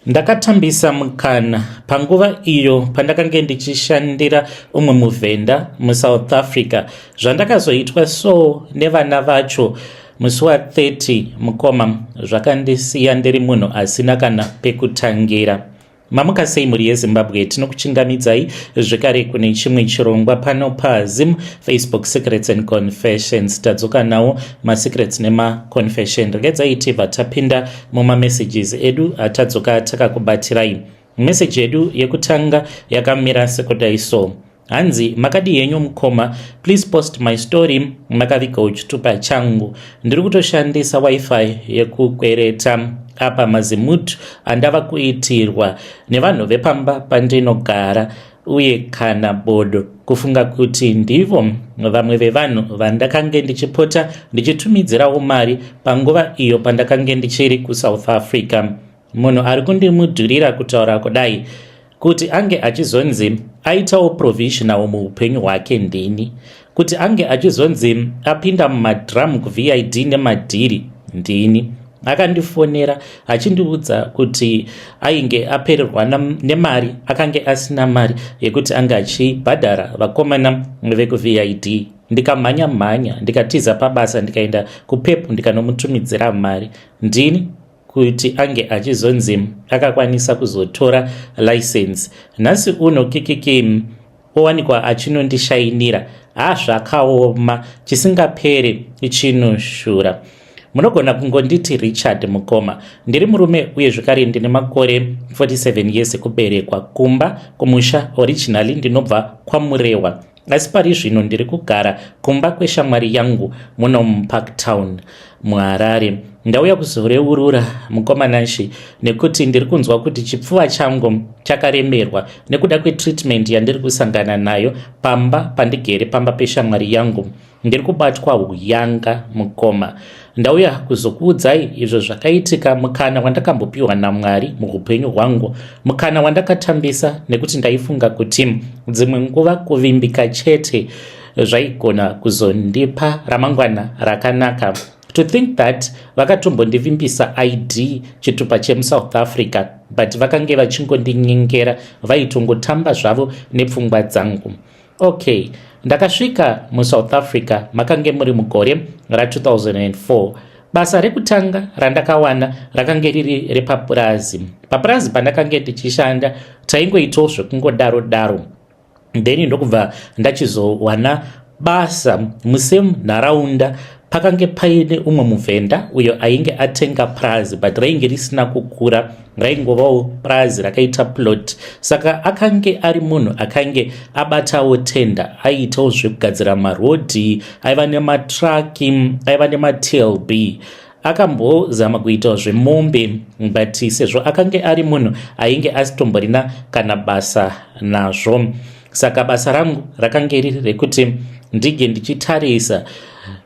Ndakatambisa mukana panguva iyo pandakange ndichishandira umwe muvhenda muSouth Africa zvandakazoitwa so nevana vacho musi wa 30 mukoma zvakandisiya ndiri munhu asina kana pekutangira. Mamuka sei mhuri yeZimbabwe tinokuchingamidzai zvekare kune chimwe chirongwa pano paZim Facebook Secrets and Confessions tadzoka nawo masecrets nemaconfession regedzai tibva tapinda mumamessages edu atadzoka takakubatirai meseji yedu yekutanga yakamira sekudai so hanzi makadii henyu mukoma please post my story makaviga uchitupa changu ndiri kutoshandisa wifi yekukwereta apa mazimut andava kuitirwa nevanhu vepamba pandinogara uye kana bodo kufunga kuti ndivo vamwe vevanhu vandakange ndichipota ndichitumidzirawo mari panguva iyo pandakange ndichiri kusouth africa munhu ari kundimudhurira kutaura kudai kuti ange achizonzi aitawo provisional muupenyu hwake ndini kuti ange achizonzi apinda mumadram kuvid nemadhiri ndini akandifonera achindiudza kuti ainge apererwa nemari akange asina mari yekuti ange achibhadhara vakomana vekuvid ndikamhanya mhanya ndikatiza pabasa ndikaenda kupep ndikanomutumidzira mari ndini kuti ange achizonzi akakwanisa kuzotora license nhasi uno kikiki owanikwa achinondishainira ha zvakaoma chisingaperi chinoshura munogona kungonditi richard mukoma ndiri murume uye zvekare ndine makore 47 years kuberekwa kumba kumusha originally ndinobva kwamurehwa asi pari zvino ndiri kugara kumba kweshamwari yangu muno mupark town muharare ndauya kuzoreurura mukomananshi nekuti ndiri kunzwa kuti chipfuva changu chakaremerwa nekuda kwetreatment yandiri kusangana nayo pamba pandigere pamba peshamwari yangu ndiri kubatwa huyanga mukoma ndauya kuzokuudzai izvo zvakaitika mukana wandakambopiwa namwari muupenyu hwangu mukana wandakatambisa nekuti ndaifunga kuti dzimwe nguva kuvimbika chete zvaigona kuzondipa ramangwana rakanaka to think that vakatombondivimbisa id chitupa chemusouth africa but vakange vachingondinyengera vaitongotamba zvavo nepfungwa dzangu Okay, ndakasvika muSouth Africa makange muri mugore ra2004. Basa rekutanga randakawana rakange riri repapurazi. Papurazi pandakange tichishanda taingoitawo zvekungodaro daro then ndokubva ndachizowana basa musame nharaunda Pakange paine umwe muvhenda uyo ainge atenga purazi but rainge risina kukura raingovawo purazi rakaita plot saka akange ari munhu akange abatawo tenda aiitawo zvekugadzira marodhi aiva nematraki aiva nematlb akambozama kuitawo zvemombe but sezvo akange ari munhu ainge asitomborina kana basa nazvo saka basa rangu rakange riri rekuti ndinge ndichitarisa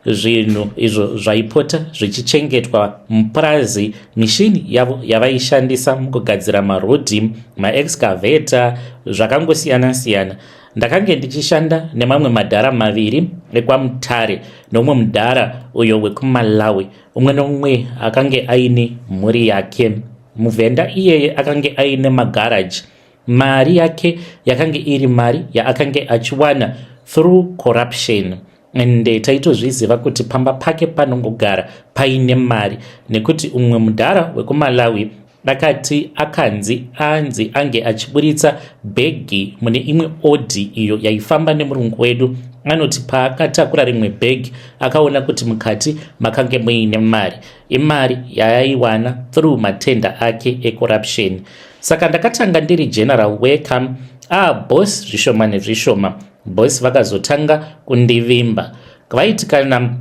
zvinhu izvo zvaipota zvichichengetwa mupurazi mishini yavo yavaishandisa mukugadzira marodhi maexcavator zvakangosiyana-siyana ndakange ndichishanda nemamwe madhara maviri ekwamutare nomumwe mudhara uyo wekumalawi umwe nomumwe akange aine mhuri yake muvhenda iyeye akange aine magaraji Mari yake yakange iri mari yaakange achiwana through corruption and eh, taitozviziva kuti pamba pake panongogara paine mari nekuti umwe mudhara wekumalawi akati akanzi anzi ange achiburitsa bhegi mune imwe odhi iyo yaifamba nemurungu wedu anoti paakatakura rimwe bhegi akaona kuti mukati makange muine mari imari yaaiwana through matenda ake ecorruption saka ndakatanga ndiri general worker ah boss zvishoma nezvishoma boss vakazotanga kundivimba vaiti kana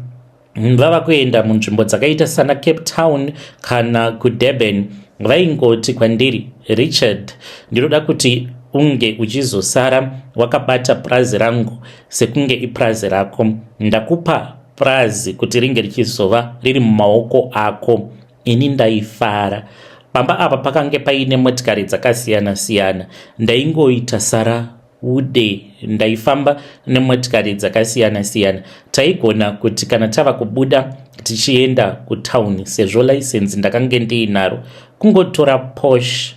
vava kuenda munzvimbo dzakaita sana cape town kana kudurban vaingoti kwandiri richard ndinoda kuti unge uchizosara wakabata purazi rangu sekunge ipurazi rako ndakupa purazi kuti ringe richizova riri mumaoko ako ini ndaifara pamba apa pakange paine motikari dzakasiyana siyana ndaingoita sara ude ndaifamba nemotikari dzakasiyana siyana taigona kuti kana tava kubuda tichienda kutauni sezvo laisenzi ndakange ndiinaro kungotora posh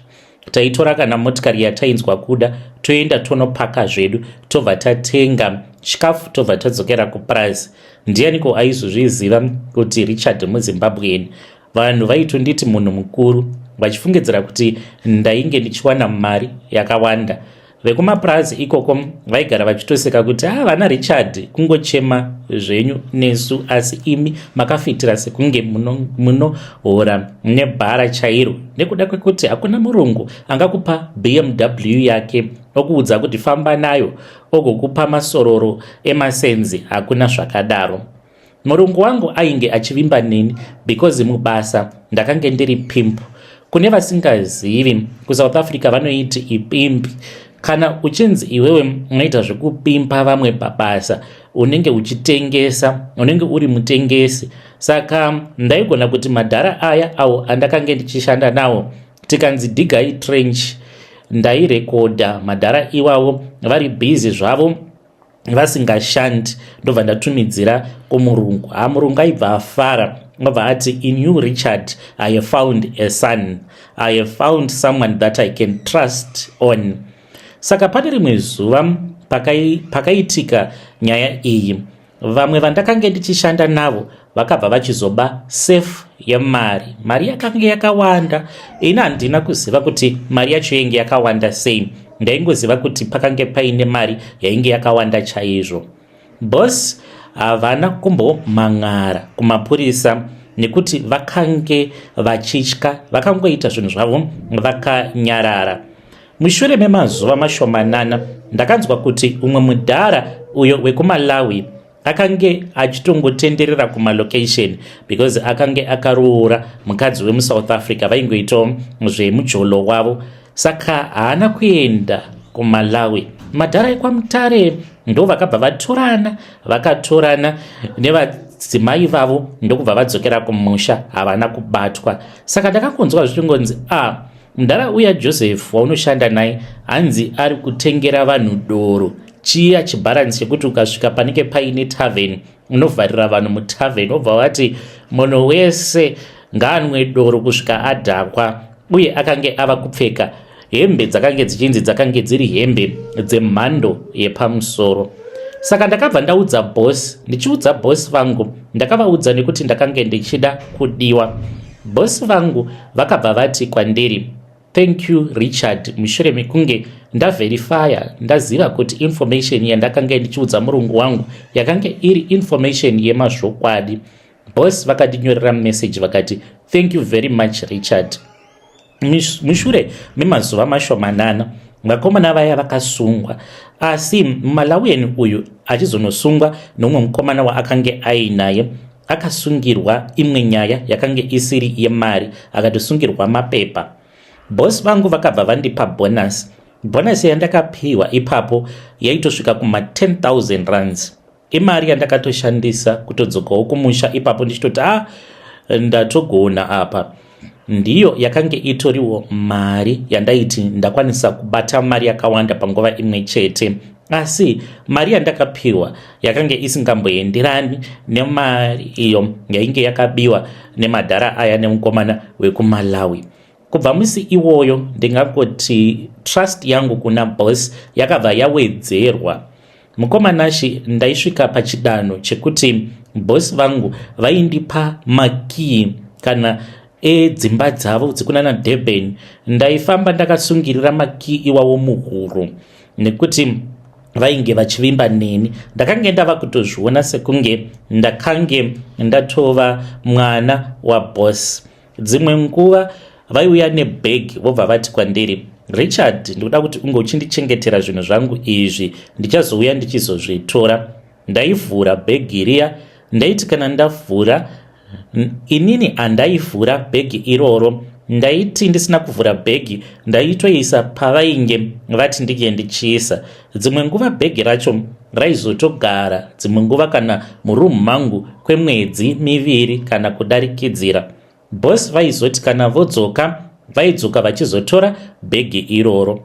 taitora kana motikari yatainzwa kuda toenda tonopaka zvedu tobva tatenga chikafu tobva tadzokera kupurazi ndiyaniko aizozviziva kuti richard muzimbabwean vanhu vaitonditi munhu mukuru vachifungidzira kuti ndainge ndichiwana mari yakawanda vekumapurazi ikoko vaigara vachitoseka kuti ha ah, vana richard kungochema zvenyu nesu asi imi makafitira sekunge munohora muno nebhara chairo nekuda kwekuti hakuna murungu angakupa bmw yake okuudza kuti famba nayo ogokupa masororo emasenzi hakuna zvakadaro Murungu wangu ainge achivimba neni because mubasa ndakange ndiri pimp. Kune vasingazivi, kuSouth Africa vanoiti ipimpi. Kana uchinzi iwewe unoita zvekupimpa vamwe pabasa, unenge uchitengesa, unenge uri mutengesi. Saka ndaigona kuti madhara aya awo andakange ndichishanda nawo, tikanzi digai trench, ndairekodha madhara iwawo vari busy zvavo vasingashandi ndobva ndatumidzira kumurungu ha murungu aibva afara obva ati in you richard i have found a son i have found someone that i can trust on saka pane rimwe zuva pakaitika nyaya iyi vamwe vandakange ndichishanda navo vakabva vachizoba safe yemari mari yakange yakawanda ini handina kuziva kuti mari yacho yainge yakawanda sei ndaingoziva kuti pakange paine mari yainge yakawanda chaizvo bos havana kumbomhan'ara kumapurisa nekuti vakange vachitya vakangoita zvinhu zvavo vakanyarara mushure memazuva mashomanana ndakanzwa kuti umwe mudhara uyo wekumalawi akange achitongotenderera kumalocation because akange akaroora mukadzi wemusouth africa vaingoitawo zvemujolo wavo saka haana kuenda kumalawi madhara ekwamutare ndo vakabva vatorana vakatorana nevadzimai vavo ndokubva vadzokera kumusha havana kubatwa saka ndakangonzwa zvichingonzi a ah, Mdara uya Joseph waunoshanda naye hanzi ari kutengera vanhu doro chiya chibharanzi chekuti ukasvika panenge paine tavhen unovharira vanhu mutavhen obva wati munhu wese ngaanwe doro kusvika adhakwa uye akange ava kupfeka hembe dzakange dzichinzi dzakange dziri hembe dzemhando yepamusoro saka ndakabva ndaudza boss ndichiudza boss vangu ndakavaudza nekuti ndakange ndichida kudiwa Boss vangu vakabva vati kwandiri, Thank you Richard, mushure mekunge ndaverifaya ndaziva kuti information yandakanga ndichiudza murungu wangu yakange iri information yemazvokwadi. Boss vakandinyorera message vakati, Thank you very much Richard. Mushure memazuva mashomanana vakomana vaya vakasungwa asi malawian uyu achizonosungwa nomumwe mukomana waakange ainaye akasungirwa imwe nyaya yakange isiri yemari akatosungirwa mapepa bhosi vangu vakabva vandipa bonus bonus yandakapiwa ipapo yaitosvika kuma 10000 runs imari yandakatoshandisa kutodzokawo kumusha ipapo ndichitoti a ah, ndatogona apa ndiyo yakange itoriwo mari yandaiti ndakwanisa kubata mari yakawanda panguva imwe chete asi mari yandakapiwa yakange isingamboenderani nemari iyo yainge yakabiwa nemadhara aya nemukomana wekumalawi Kubva musi iwoyo ndingangoti trust yangu kuna boss yakabva yawedzerwa. Mukoma Nashi ndaisvika pachidanho chekuti boss vangu vaindipa makii kana edzimba dzavo dzekunana Durban. Ndaifamba ndakasungirira makii iwawo muhuro nekuti vainge vachivimba neni ndakange ndava kutozviona sekunge ndakange ndatova mwana waboss dzimwe nguva vaiuya nebhegi vobva vati kwandiri richard ndikuda kuti unge uchindichengetera zvinhu zvangu izvi ndichazouya ndichizozvitora ndaivhura bhegi riya ndaiti kana ndavhura inini handaivhura bhegi iroro ndaiti ndisina kuvhura bhegi ndaitoisa pavainge vati ndinge ndichiisa Dzimwe nguva bhegi racho raizotogara dzimwe nguva kana murumu mangu kwemwedzi miviri kana kudarikidzira. Bos vaizoti kana vodzoka vaidzoka vachizotora bhegi iroro.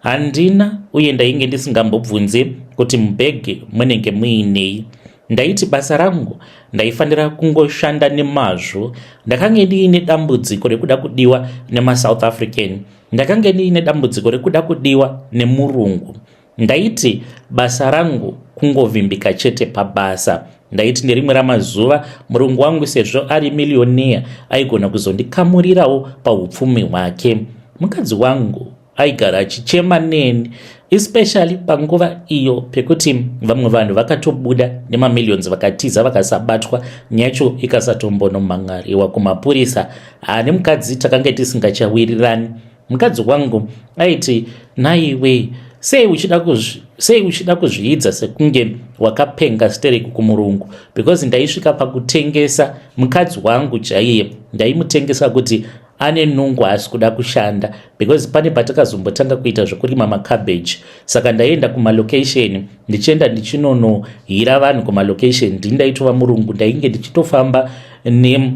Handina uye ndainge ndisingambobvunzi kuti mubhegi munenge muinei. Ndaiti basa rangu ndaifanira kungoshanda nemazvo. Ndakange ndiine dambudziko rekuda kudiwa nemasouth African Ndakange ndiine dambudziko rekuda kudiwa nemurungu. Ndaiti basa rangu kungovimbika chete pabasa. Ndaiti nerimwe ramazuva murungu wangu sezvo ari millionaire aigona kuzondikamurirawo paupfumi hwake. Mukadzi wangu aigara achichema neni especially panguva iyo pekuti vamwe vanhu vakatobuda nemamillions vakatiza vakasabatwa nyacho ikasatombonomhan'ariwa kumapurisa haa nemukadzi takange tisingachawirirani mukadzi wangu aiti naiwe sei uchida kuzvi sei uchida kuzviidza sekunge wakapenga stereki kumurungu because ndaisvika pakutengesa mukadzi wangu chaiye ndaimutengesa kuti ane nungu haasi kuda kushanda because pane patakazombotanga kuita zvekurima macabbage saka ndaienda kumalocation ndichienda ndichinonohira vanhu kumalocation ndindaitova murungu ndainge ndichitofamba ne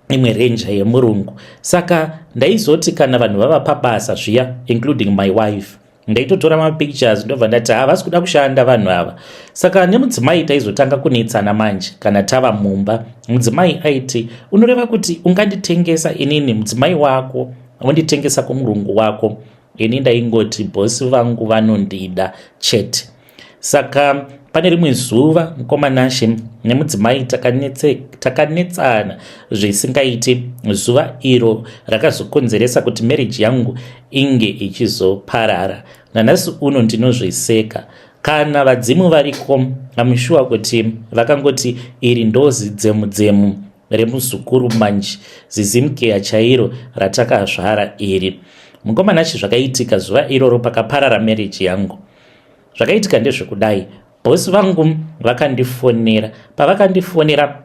imwe ranger yemurungu saka ndaizoti kana vanhu vava pabasa zviya including my wife ndaitotora mapictures ndobva ndati havasi kuda kushanda vanhu ava saka nemudzimai taizotanga kunetsana manje kana tava mumba mudzimai aiti unoreva kuti unganditengesa inini mudzimai wako wonditengesa kumurungu wako ini ndaingoti bhosi vangu vanondida chete Saka pane rimwe zuva mukoma Nashe nemudzimai takanetsana zvisingaiti zuva iro rakazokonzeresa kuti marriage yangu inge ichizoparara. Nanhasi uno ndinozviseka. Kana vadzimu variko amushuwa kuti vakangoti iri ndozi dzemu dzemu remuzukuru manje zizimkeya chairo ratakazvara iri. Mukoma Nashe zvakaitika zuva iroro pakaparara marriage yangu. zvakaitika ndezvekudai bosi vangu vakandifonera pavakandifonera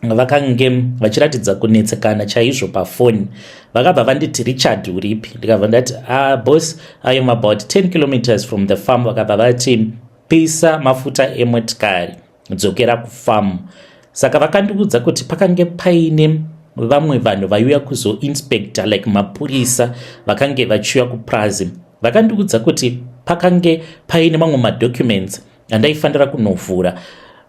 vakange vachiratidza kunetsekana chaizvo pafoni vakabva vanditi richard uripi ndikabva ndati ah, bos i am about 10 kilometers from the farm vakabva vati pisa mafuta emotikari dzokera kufarm saka vakandiudza kuti pakange paine vamwe vanhu vaiuya kuzoinspector like mapurisa vakange vachiuya kupurazi vakandiudza kuti pakange paine mamwe madocuments andaifanira kunovhura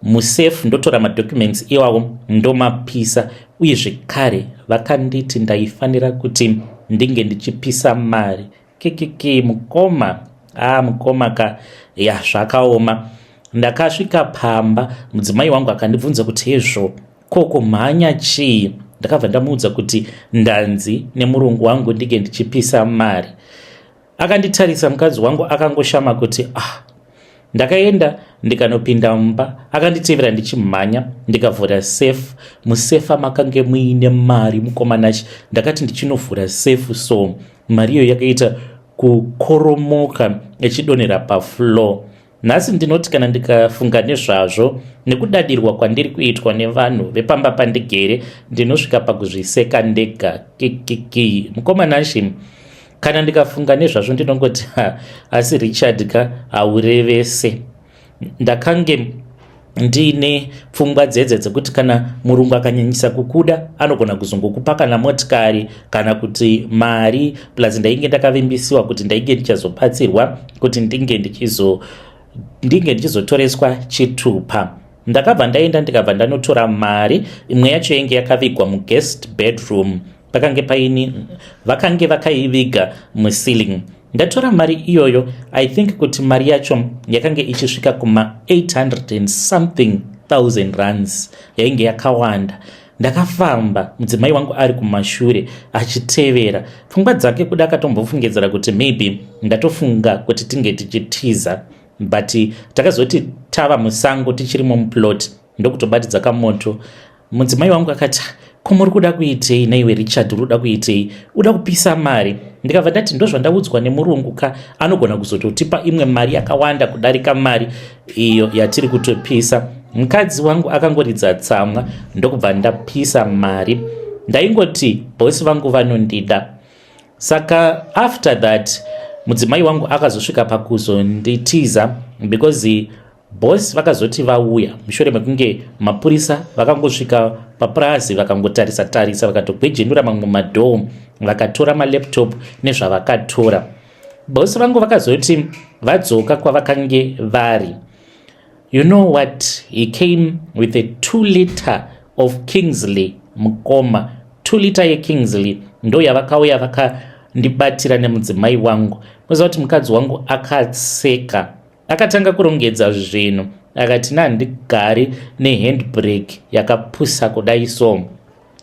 musafe ndotora madocuments iwawo ndomapisa uye zvekare vakanditi ndaifanira kuti ndinge ndichipisa mari kikiki mukoma ah mukoma ka ya zvakaoma ndakasvika pamba mudzimai wangu akandibvunza kuti hezvo ko kumhanya chii ndakabva ndamuudza kuti ndanzi nemurungu wangu ndinge ndichipisa mari akanditarisa mukadzi wangu akangoshama kuti ah ndakaenda ndikanopinda mumba akanditevera ndichimhanya ndikavhura safe musefa makange muine mari mukomanachi ndakati ndichinovhura safe so mari iyo yakaita kukoromoka ichidonhera pafloor nhasi ndinoti kana ndikafunga nezvazvo nekudadirwa kwandiri kuitwa nevanhu vepamba pandigere ndinosvika pakuzviseka ndega kikiki mukomanashi kana ndikafunga nezvazvo ndinongoti asi richard ka haurevese ndakange ndiine pfungwa dzedze dzekuti kana murungu akanyanyisa kukuda anogona kuzongokupa kana motikari kana kuti mari plus ndainge ndakavimbisiwa kuti ndainge ndichazobatsirwa kuti ndinge ndichizo ndinge ndichizotoreswa chitupa ndakabva ndaenda ndikabva ndanotora mari imwe yacho yainge yakavigwa muguest bedroom pakange paini vakange vakaiviga muceiling ndatora mari iyoyo i think kuti mari yacho yakange ichisvika kuma 800 and something thousand runs yainge yakawanda ndakafamba mudzimai wangu ari kumashure achitevera pfungwa dzake kuda akatombofungidzira kuti maybe ndatofunga kuti tinge tichitiza but takazoti tava musango tichirimo muplot ndokutobatidza kamoto mudzimai wangu akati ko muri kuda kuitei naiwe richard uri kuda kuitei uda kupisa mari ndikabva ndati ndozvandaudzwa nemurungu ka anogona kuzototipa imwe mari yakawanda kudarika mari iyo yatiri kutopisa mukadzi wangu akangoridza tsamwa ndokubva ndapisa mari ndaingoti bosi vangu vanondida saka after that mudzimai wangu akazosvika pakuzonditiza because Boss vakazoti vauya mushure mekunge mapurisa vakangosvika papurazi vakangotarisa tarisa vakatogwejenura mamwe madhoo vakatora malaptop nezvavakatora. Boss vangu vakazoti vadzoka kwavakange vari. You know what he came with a 2 liter of Kingsley mukoma. 2 liter ye Kingsley ndo yavakauya vakandibatira nemudzimai wangu. Moziva kuti mukadzi wangu akaseka Akatanga kurongedza zvinhu akati nandigari nehandbrake yakapusa kudai so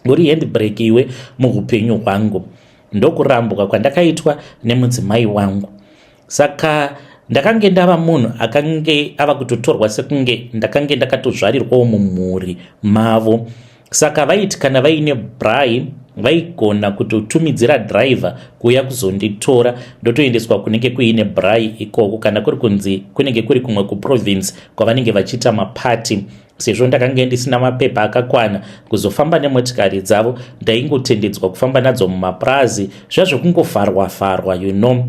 uri handbrake iwe muupenyu hwangu ndokurambwa kwandakaitwa nemudzimai wangu saka ndakange ndava munhu akange ava kutotorwa sekunge ndakange ndakatozvarirwawo mumhuri mavo saka vaiti kana vaine bry vaigona kutotumidzira driver kuuya kuzonditora ndotoendeswa kunenge kuine bry ikoko kana kuri kunzi kunenge kuri kumwe kuprovince kwavanenge vachiita mapati sezvo ndakange ndisina mapepa akakwana kuzofamba nemotikari dzavo ndaingotendedzwa kufamba nadzo mumapurazi zviya zvekungovharwa vharwa you know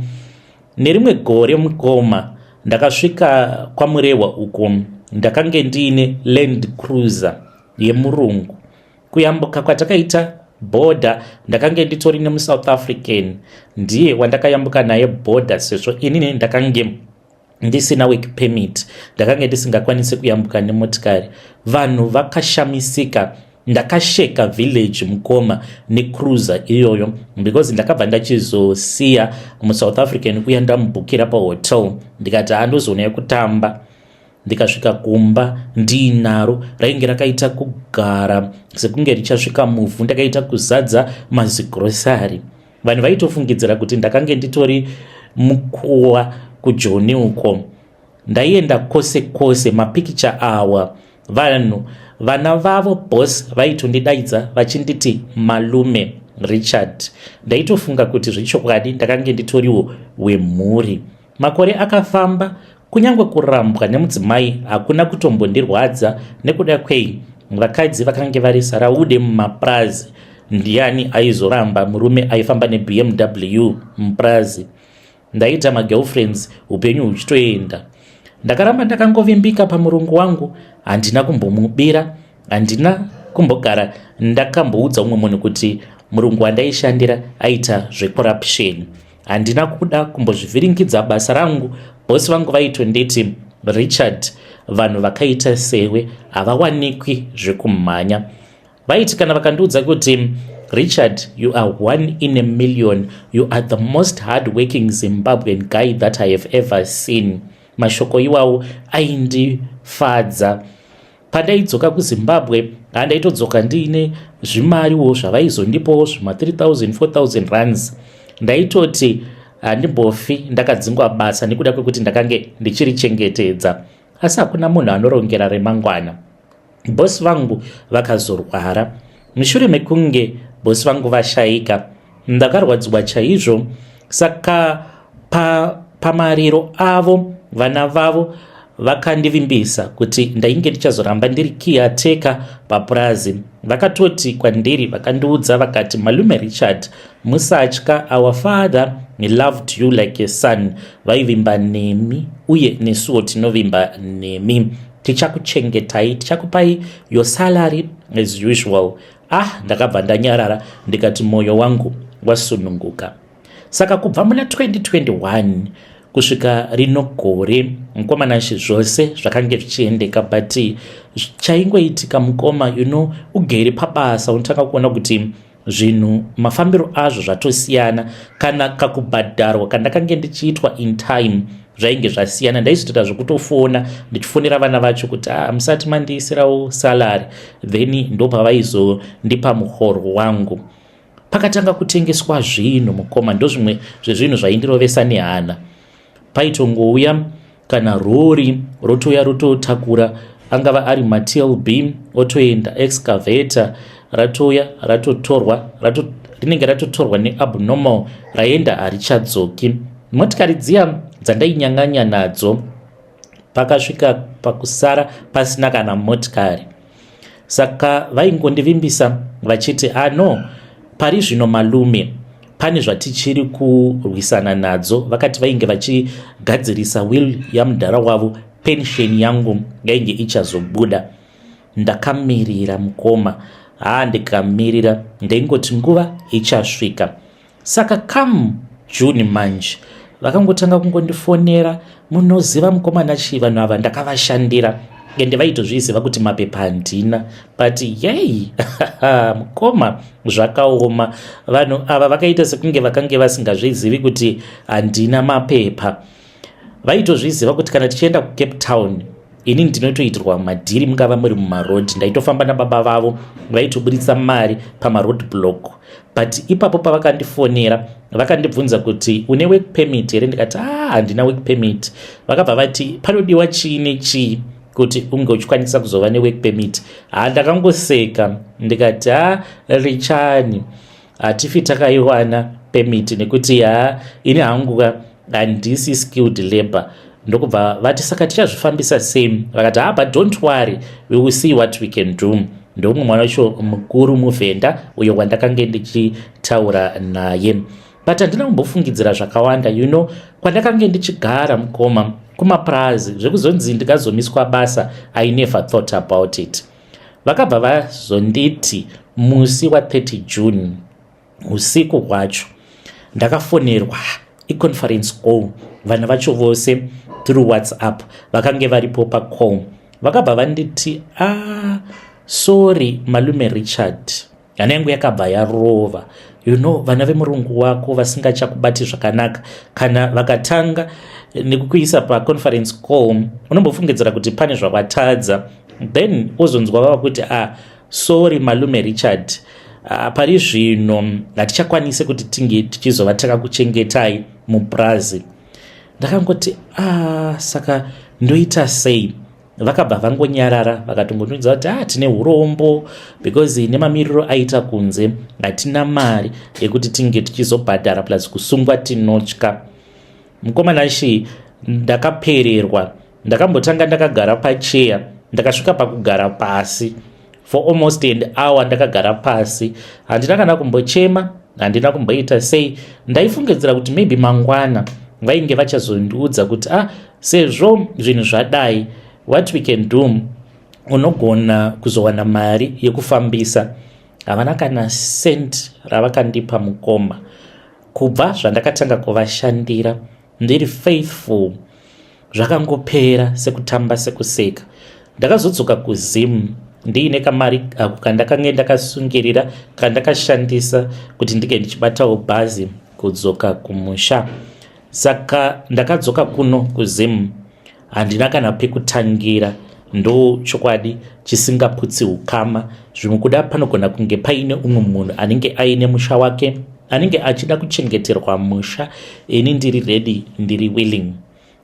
nerimwe gore mukoma ndakasvika kwamurehwa uko ndakange ndiine land cruiser yemurungu kuyambuka kwatakaita border ndakange nditori nemusouth african ndiye wandakayambuka naye border sezvo inini ndakange ndisina work permit ndakange ndisingakwanisi kuyambuka nemotikari vanhu vakashamisika ndakasheka village mukoma necruiser iyoyo because ndakabva ndachizosiya musouth african kuya ndamubhukira pahotel ndikati handozoonayo kutamba ndikasvika kumba ndiinaro rainge rakaita kugara sekunge richasvika muvhu ndakaita kuzadza mazigrosari vanhu vaitofungidzira kuti ndakange nditori mukuwa kujoni uko ndaienda kwose kwose mapikicha awa vanhu vana vavo bos vaitondidaidza vachinditi malume richard ndaitofunga kuti zvechokwadi ndakange nditoriwo wemhuri Makore akafamba, kunyange kurambwa nemudzimai hakuna kutombondirwadza nekuda kwei vakadzi vakange vari saraude mumapurazi ndiani aizoramba murume aifamba nebmw mupurazi ndaita magirlfriends upenyu huchitoenda ndakaramba ndakangovimbika pamurungu wangu handina kumbomubira handina kumbogara ndakamboudza umwe munhu kuti murungu wandaishandira aita zvecorruption handina kuda kumbozvivhiringidza basa rangu bosi vangu vaitonditi richard vanhu vakaita sewe havawanikwi zvekumhanya vaiti kana vakandiudza kuti richard you are one in a million you are the most hard working zimbabwean guy that i have ever seen mashoko iwawo aindifadza Pandaidzoka kuZimbabwe handaitodzoka ndiine zvimariwo zvavaizondipawo zvima 3000 4000 runs ndaitoti handimbofi ndakadzingwa basa nekuda kwekuti ndakange ndichirichengetedza asi hakuna munhu anorongera remangwana bosi vangu vakazorwara mushure mekunge bosi vangu vashaika Ndakarwadziwa chaizvo saka pa, pamariro avo vana vavo vakandivimbisa kuti ndainge ndichazoramba ndiri kiateka papurazi vakatoti kwandiri vakandiudza vakati malume richard musatya our father he loved you like a son vaivimba nemi uye nesuwo tinovimba nemi tichakuchengetai tichakupai your salary as usual Ah, ndakabva ndanyarara ndikati moyo wangu wasununguka. Saka kubva muna 2021 kusvika rino gore mkomana nshi zvose zvakange zvichiendeka but chaingoitika mukoma you know ugere pabasa unotanga kuona kuti zvinhu mafambiro azvo zvatosiyana kana kakubhadharwa kandakange ndichiitwa in time zvainge zvasiyana ndaizotoita zvekutofona ndichifonera vana vacho kuti ah, musati mandiisirawo salary then ndopavaizondipa muhoro wangu pakatanga kutengeswa zvinhu mukoma ndozvimwe zvezvinhu zvaindirovesa nehana paitongouya kana rori rotouya rototakura angava ari matlb otoenda excavator ratouya ratotorwa rato, rinenge ratotorwa neabnormal raenda harichadzoki motikari dziya dzandainyang'anya nadzo pakasvika pakusara pasina kana motikari saka vaingondivimbisa vachiti ano ah, pari zvino malume pane zvatichiri kurwisana nadzo vakati vainge vachigadzirisa will yamudhara wavo pension yangu yainge ichazobuda Ndakamirira mukoma haa ndikamirira ndaingoti nguva ichasvika saka come June manje vakangotanga kungondifonera munoziva mukoma nachii vanhu ava ndakavashandira ende vaitozviziva kuti mapepa handina but yei mukoma zvakaoma vanhu ava vakaita sekunge vakange vasingazvizivi kuti handina mapepa vaitozviziva kuti kana tichienda kucape town ini ndinotoitirwa madhiri mungava muri mumaroad ndaitofamba nababa vavo vaitoburitsa mari pamaroad block but ipapo pavakandifonera vakandibvunza kuti une work permit here ndikati ah, handina work permit vakabva vati panodiwa chii nechii kuti unge uchikwanisa kuzova nework permit ha ah, ndakangoseka ndikati ha ah, richani hatifi takaiwana pemiti nekuti yaa ini hangu handisi skilled labor ndokubva vati saka tichazvifambisa same vakati haba don't worry we will see what we can do ndoumwe mwana wacho mukuru muvhenda uyo wandakange ndichitaura naye but handina kumbofungidzira zvakawanda you know kwandakange ndichigara mukoma kumapurazi zvekuzonzi ndikazomiswa basa i never thought about it vakabva vazonditi musi wa 30 june usiku hwacho ndakafonerwa iconference call vana vacho vose through whatsapp vakange varipo pacall vakabva vanditi a ah, sorry malume richard nyana yangu yakabva yarova you know vana vemurungu wako vasingachakubati zvakanaka kana vakatanga nekukuisa paconference call unombofungidzira kuti pane zvakwatadza then wozonzwa vava kuti ah sorry malume richard ah, pari zvino hatichakwanise kuti tinge tichizova takakuchengetai mupurazi ndakangoti ah saka ndoita sei vakabva vangonyarara vakatongotonidza kuti ah tine urombo because nemamiriro aita kunze hatina mari yekuti tinge tichizobhadhara plus kusungwa tinotya mukomana shi ndakapererwa ndakambotanga ndakagara pacheya ndakasvika pakugara pasi for almost an hour ndakagara pasi handina kana kumbochema handina kumboita sei ndaifungidzira kuti maybe mangwana vainge vachazondiudza kuti ah sezvo zvinhu zvadai what we can do unogona kuzowana mari yekufambisa havana kana cent ravakandipa mukoma kubva zvandakatanga kuvashandira ndiri faithful zvakangopera sekutamba sekuseka ndakazodzoka kuzim ndiine kamari ako kandakange ndakasungirira kandakashandisa kuti ndinge ndichibatawo bhazi kudzoka kumusha saka ndakadzoka kuno kuzim handina kana pekutangira ndo chokwadi chisingaputsi ukama zvimwe kuda panogona kunge paine umwe munhu anenge aine musha wake anenge achida kuchengeterwa musha ini ndiri ready ndiri willing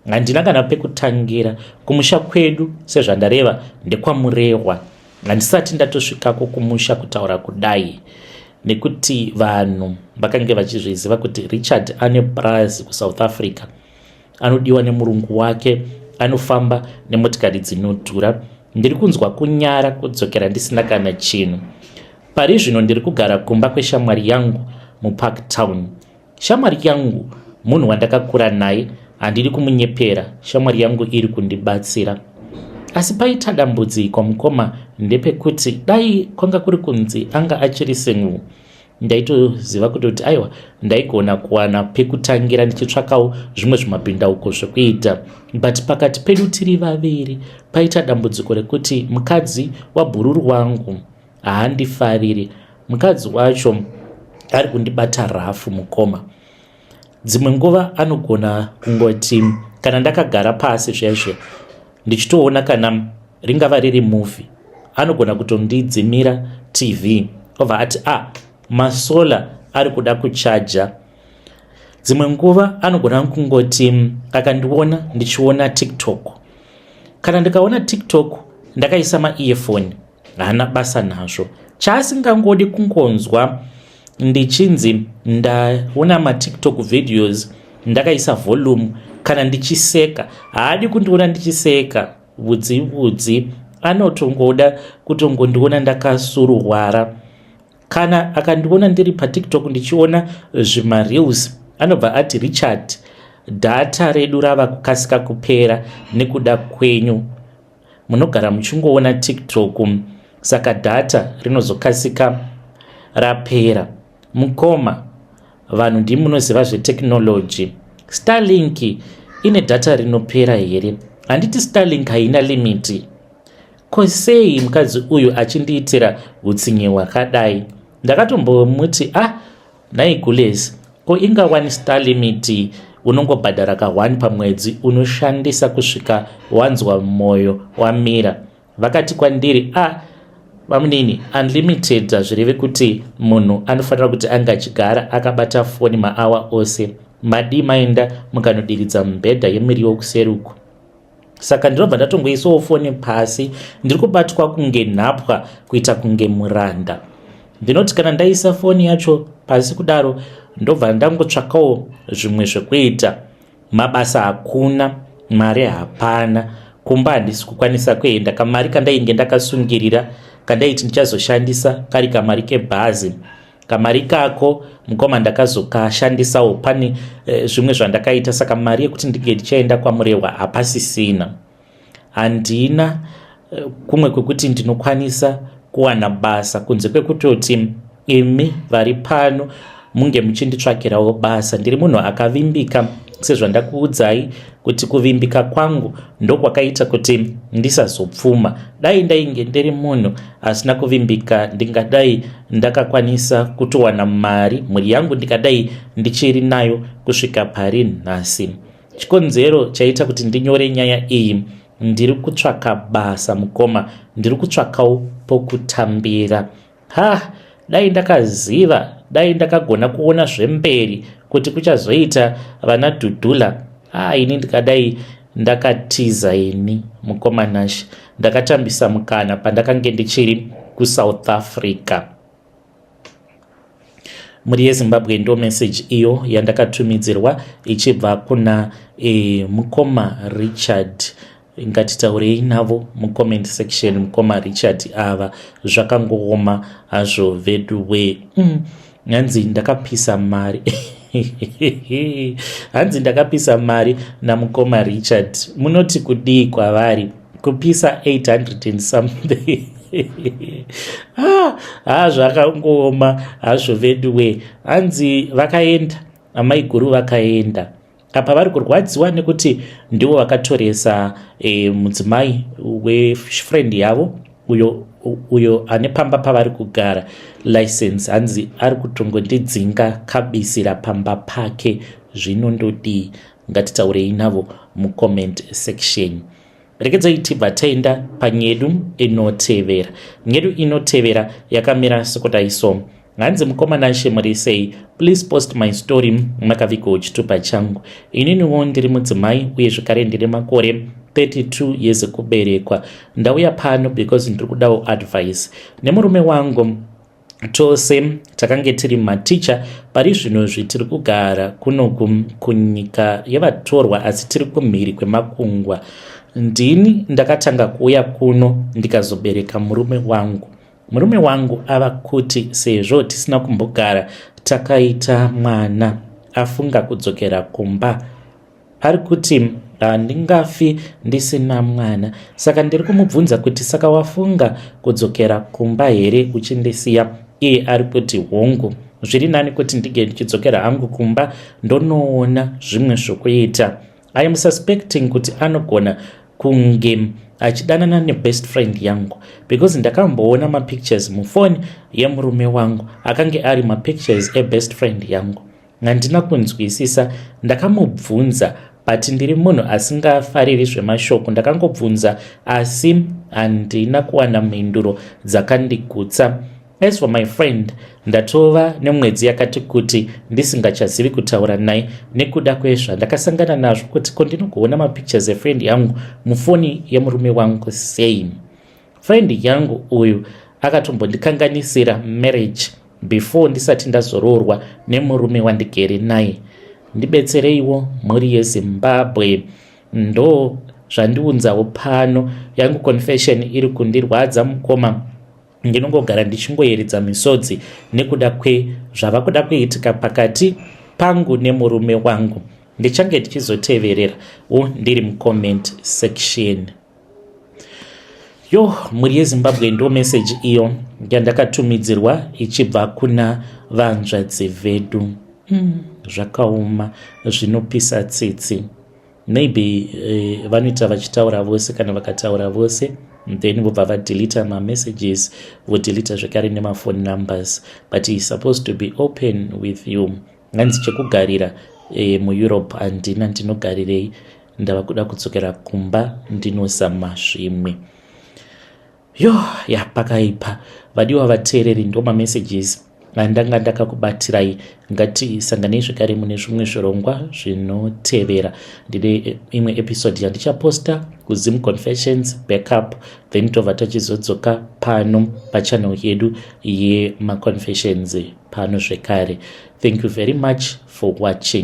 handina kana pekutangira kumusha kwedu sezvandareva ndekwamurehwa handisati ndatosvikako kumusha kutaura kudai nekuti vanhu vakange vachizviziva kuti richard ane purazi kusouth africa anodiwa nemurungu wake anofamba nemotikari dzinodhura ndiri kunzwa kunyara kudzokera ndisina kana chinhu pari zvino ndiri kugara kumba kweshamwari yangu mupark town shamwari yangu munhu wandakakura naye handidi kumunyepera shamwari yangu iri kundibatsira asi paita dambudziko mukoma ndepekuti dai kwanga kuri kunzi anga achiri senguu ndaitoziva kutoti aiwa ndaigona kuwana pekutangira ndichitsvakawo zvimwe zvimabhindauko zvekuita but pakati pedu tiri vaviri paita dambudziko rekuti mukadzi wabhururu wangu haandifariri mukadzi wacho ari kundibata rafu mukoma dzimwe nguva anogona kungoti kana ndakagara pasi zvezve ndichitoona kana ringava riri movie anogona kutondidzimira tv obva ati a ah, masola ari kuda kuchaja dzimwe nguva anogona kungoti mm, akandiona ndichiona tiktok kana ndikaona tiktok ndakaisa maearfoni haana basa nazvo chaasingangodi kungonzwa ndichinzi ndaona matiktok videos ndakaisa volume kana ndichiseka haadi kundiona ndichiseka vhudzi vhudzi anotongoda kutongondiona ndakasuruhwara kana akandiona ndiri patiktok ndichiona zvimareels anobva ati richard dhata redu rava kukasika kupera nekuda kwenyu munogara muchingoona tiktok saka data rinozokasika rapera mukoma vanhu ndimunoziva zvetechnology starlink ine data rinopera here handiti starlink haina limiti ko sei mukadzi uyu achindiitira utsinye hwakadai ndakatombomuti ah Nhai Gules, ko inga one star limit unongobhadhara ka one pamwedzi unoshandisa kusvika wanzwa moyo wamira. Vakati kwandiri, a ah, vamunini, unlimited hazvirevi kuti munhu anofanira kuti anga achigara akabata foni maawa ose. Madii maenda mukanodiridza mubhedha yemiriwo kuseri uku? saka ndinobva ndatongoisawo foni pasi ndiri kubatwa kunge nhapwa kuita kunge muranda ndinoti kana ndaisa foni yacho pasi kudaro ndobva ndangotsvakawo zvimwe zvekuita mabasa hakuna mari hapana kumba handisi kukwanisa kuenda kamari kandainge ndakasungirira kandaiti ndichazoshandisa kari kamari kebhazi kamari ikako mukoma ndakazokashandisawo pane eh, zvimwe zvandakaita saka mari yekuti ndinge ndichaenda kwamurehwa hapasisina handina eh, kumwe kwekuti ndinokwanisa kuwana basa kunze kwekutoti imi vari pano munge muchinditsvakirawo basa ndiri munhu akavimbika sezvandakuudzai kuti kuvimbika kwangu ndokwakaita kuti ndisazopfuma dai ndainge ndiri munhu asina kuvimbika ndingadai ndakakwanisa kutowana mari mhuri yangu ndikadai ndichiri nayo kusvika pari nhasi chikonzero chaita kuti ndinyore nyaya iyi ndiri kutsvaka basa mukoma ndiri kutsvakawo pokutambira Ha, dai ndakaziva, dai ndakagona kuona zvemberi kuti kuchazoita vana Dudula. Ha, ini ndikadai ndakatiza ini mukoma Nash. Ndakatambisa mukana pandakange ndichiri kuSouth Africa. Mhuri yeZimbabwe ndo message iyo yandakatumidzirwa ichibva kuna e, mukoma Richard ngatitaurei navo mucomment section mukoma richard ava zvakangooma hazvo veduwee mm. hanzi ndakapisa mari hanzi ndakapisa mari namukoma richard munoti kudii kwavari kupisa 800 and something ah, ah zvakangooma hazvo veduwee hanzi vakaenda amaiguru vakaenda apa vari kurwadziwa nekuti ndivo vakatoresa e, mudzimai wefriend yavo uyo uyo ane pamba pavari kugara license hanzi ari kutongondidzinga kabisira pamba pake zvinondodii ngatitaurei navo mucomment section Regedzai tibva taenda panyedu inotevera. Nyedu inotevera yakamira sekudai so. Hanzi mukomana Shemuri sei? Please post my story makavigwa uchitupa changu. Ininiwo ndiri mudzimai uye zvekare ndine makore 32 years kuberekwa. Ndauya pano because ndiri kudawo advice nemurume wangu Tose takange tiri maticha pari zvinozvi tiri kugara kuno kunyika yevatorwa asi tiri kumhiri kwemakungwa. Ndini ndakatanga kuuya kuno ndikazobereka murume wangu. Murume wangu ava kuti sezvo tisina kumbogara takaita mwana afunga kudzokera kumba. ari kuti handingafi ndisina mwana saka ndiri kumubvunza kuti saka wafunga kudzokera kumba here uchindisiya iye ari kuti hongu zviri nani kuti ndige ndichidzokera hangu kumba ndonoona zvimwe zvokuita i am suspecting kuti anogona kunge achidanana nebest friend yangu because ndakamboona mapictures mufoni yemurume wangu akange ari mapictures ebest friend yangu Handina kunzwisisa ndakamubvunza but ndiri munhu asingafariri zvemashoko ndakangobvunza asi handina kuwana mhinduro dzakandigutsa. As for my friend ndatova nemwedzi yakati kuti ndisingachazivi kutaura naye nekuda kwezvandakasangana nazvo kuti ko ndinogoona mapictures efriend yangu mufoni yemurume wangu sei. Friend yangu uyu akatombondikanganisira marriage before ndisati ndazoroorwa nemurume wandigere naye. Ndibetsereiwo mhuri yeZimbabwe. Ndo zvandiunzawo pano yangu confession iri kundirwadza mukoma ndinongogara ndichingoyeredza misodzi nekuda kwezvava kuda kuitika pakati pangu nemurume wangu ndichange ndichizoteverera u ndiri mucomment section yo mhuri yezimbabwe ndo meseji iyo yandakatumidzirwa ichibva kuna vanzvadzi vedu mm. zvakaoma zvinopisa tsitsi maybe uh, vanoita vachitaura vose kana vakataura vose then vobva vadelita mamessages vodelita zvekare nemaphone numbers but he supposed to be open with you hanzi chekugarira eh, mueurope handina ndinogarirei ndava kuda kudzokera kumba ndinozama zvimwe yo ya pakaipa vadiwa vateereri ndomamessages andanga ndakakubatirai ngatisanganei zvekare mune zvimwe zvirongwa zvinotevera ndine imwe episode yandichaposta kuzim confessions backup then tova tachizodzoka pano pachanel yedu yemaconfessions pano zvekare thank you very much for watching